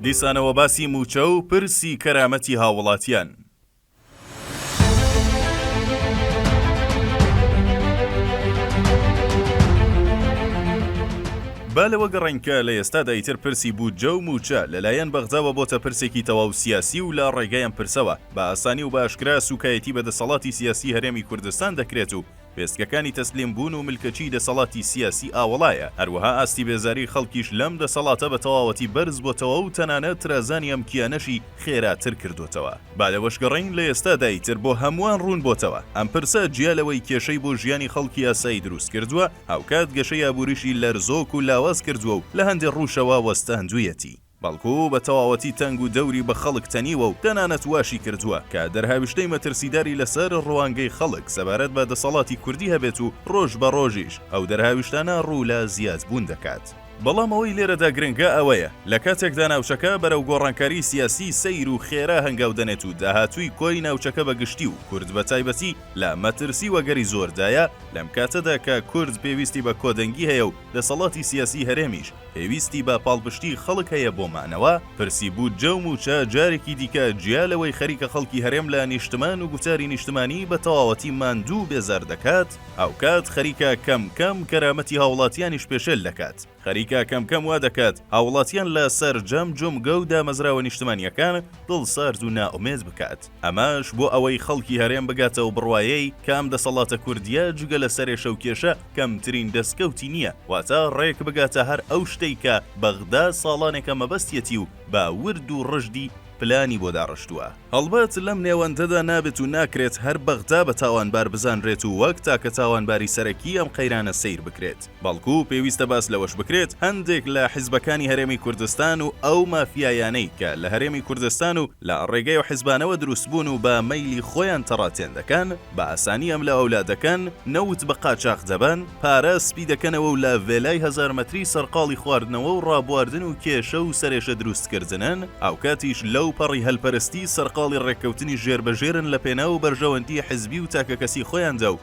دیسانەوە باسی مووچە و پرسی کەرامەتی هاووڵاتیان. با لەوە گەڕێین کە لە ئێستادا ئیتر پرسی بودجە و موچە لە لایەن بەغداوە بۆتە پرسێکی تەواو سیاسی و لە ڕێگای ئەم پرسەوە بە ئاسانی و بە ئاشکرا سوکایەتی بە دەسەڵاتی سیاسی هەرێمی کوردستان دەکرێت و وێستگەکانی تەسلیم بوون و ملکەچی دەسەڵاتی سیاسی ئاوەڵایە، هەروەها ئاستی بێزاری خەڵکیش لەم دەسەڵاتە بە تەواوەتی بەرز بۆتەوە و تەنانەت ترازانی ئەم کیانەشی خێراتر کردۆتەوە. با لەوەشگەڕێین لە ئێستادا ئیتر بۆ هەمووان ڕوون بۆتەوە ئەم پرسە جیا لەوەی کێشەی بۆ ژیانی خەڵکی ئاسایی دروست کردووە، هاوکات گەشەی ئابووریشی لەرزۆک و لاواز کردووە و لە هەندێ ڕووشەوە وەستاندوویەتی. بەڵکو بە تەواوەتی تەنگ و دەوری بە خەڵک تەنیوە و تەنانەت واشی کردووە کە دەرهاویشتەی مەترسیداری لەسەر ڕوانگەی خەڵک سەبارەت بە دەسەڵاتی کوردی هەبێت و ڕۆژ بە ڕۆژیش ئەو دەرهاویشتانە ڕوو لە زیاد بوون دەکات. بەڵام ئەوەی لێرەدا گرنگە ئەوەیە لە کاتێکدا ناوچەکە بەرەو گۆڕانکاری سیاسی سەیر و خێرا هەنگاو دەنێت و داهاتووی کۆی ناوچەکە بە گشتی و کورد بە تایبەتی لە مەترسی وەگەری زۆردایە لەم کاتەدا کە کورد پێویستی بە کۆدەنگی هەیە و دەسەڵاتی سیاسی هەرێمیش پێویستی بە پاڵپشتی خەڵک هەیە بۆ مانەوە، پرسی بودجە و مووچە جارێکی دیکە جیا لەوەی خەریکە خەڵکی هەرێم لە نیشتمان و گوتاری نیشتمانی بە تەواوەتی ماندوو و بێزار دەکات، هاوکات خەریکە کەم کەم کەرامەتی هاوڵاتیانیش پێشێل دەکات. خەریکە کەم کەم وا دەکات هاوڵاتیان لە سەرجەم جومگە و دامەزراوە نیشتمانیەکان دڵسارد و نائومێد بکات. ئەمەش بۆ ئەوەی خەڵکی هەرێم بگاتە و بڕوایەی کە ئەم دەسەڵاتە کوردیە جگە لە سەرێشە و کێشە کەمترین دەسکەوتی نیە واتە ڕێک بگاتە هەر ئەو شتەی کە بەغدا ساڵانێکە مەبەستیەتی و بە ورد و ڕژدی پلانی بۆ داڕشتوە. هەڵبەت لەم نێوەندەدا نابێت و ناکرێت هەر بەغدا بە تاوانبار بزانرێت و وەک تاکە تاوانباری سەرەکی ئەم قەیرانە سەیر بکرێت. بەڵکو پێویستە باس لەوەش بکرێت هەندێک لە حزبەکانی هەرێمی کوردستان و ئەو مافیایانەی کە لە هەرێمی کوردستان و لە ڕێگەی ئەو حزبانەوە دروست بوون و بە مەیلی خۆیان تەڕاتێن دەکەن بە ئاسانی ئەملا ئەولا دەکەن، نەوت بە قاچاخ دەبەن، پارە سپی دەکەنەوە و لە ڤێلای هەزار مەتری سەرقاڵی خواردنەوە و ڕابواردن و کێشە و سەرێشە دروست کردنن، هاوکاتیش لەو پەڕی هەلپەرستی سەرقاڵی ڕێککەوتنی ژێربەژێرن لە پێناو بەرژەوەندی حزبی و تاکەکەسی خۆیاندا و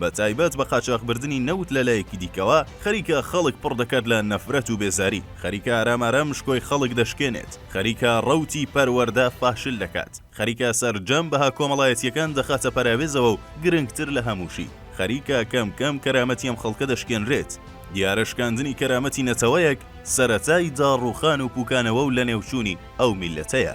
بە تایبەت بە قاچاخبردنی نەوت لە لایەکی دیکەوە، خەریکە خەڵک پڕ دەکات لە نەفرەت و بێزاری، خەریکە ئارام ئارام شکۆی خەڵک دەشکێنێت، خەریکە ڕەوتی پەروەردە فاشل دەکات، خەریکە سەرجەم بەها کۆمەڵایەتییەکان دەخاتە پەراوێزەوە و گرنگتر لە هەمووشی، خەریکە کەم کەم کەرامەتی ئەم خەڵکە دەشکێنرێت. دیارە شکاندنی کەرامەتی نەتەوەیەک، سەرەتای داڕووخان و پووکانەوە و لەنێوچوونی ئەو میللەتەیە.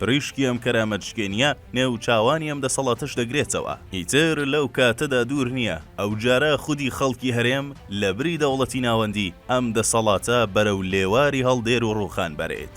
پریشکی ئەم کەرامەت شکێنیە نێو چاوانی ئەم دەسەڵاتەش دەگرێتەوە، ئیتر لەو کاتەدا دوور نیە ئەوجارە خودی خەڵکی هەرێم لە بری دەوڵەتی ناوەندی ئەم دەسەڵاتە بەرەو لێواری هەڵدێر و ڕوخان بەرێت.